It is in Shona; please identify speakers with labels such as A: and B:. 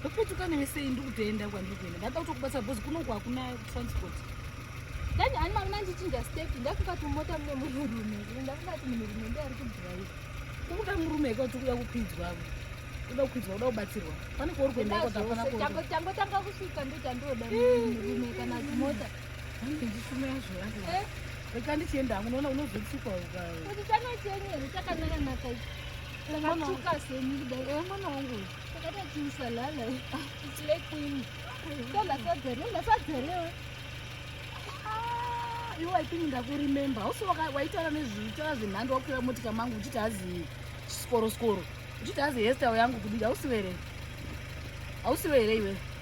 A: ndopetuka newe sei ndikutoenda kwandiri kuenda ndada kutokubatsa bhozi kunoku hakuna transport dani ani mavona ndichinja step ndakungati mumota mune munhurume ndakungati munhurume ndi ari kudhiraiva kukuda murume eka kuti kuda kupinzwavo uda kupinzwa uda kubatsirwa pane kwauri kuendakoatanotanga kusvika ndochandioda murume kana zimota ange ndisumira zvoae eh? reka ndichienda hangu unoona unozotsikwa ukakutichanochenyere chakanaka naka akatsvuka seni kudai eh, mwana wangu uyu iwe waipini ndakurememba hausi waitaura nezvitaura zvenhando wakukwira motika mangu uchiti hazi skoro skoro uchiti hazi hestyle yangu kudii hausiwe here hausiwe here iwe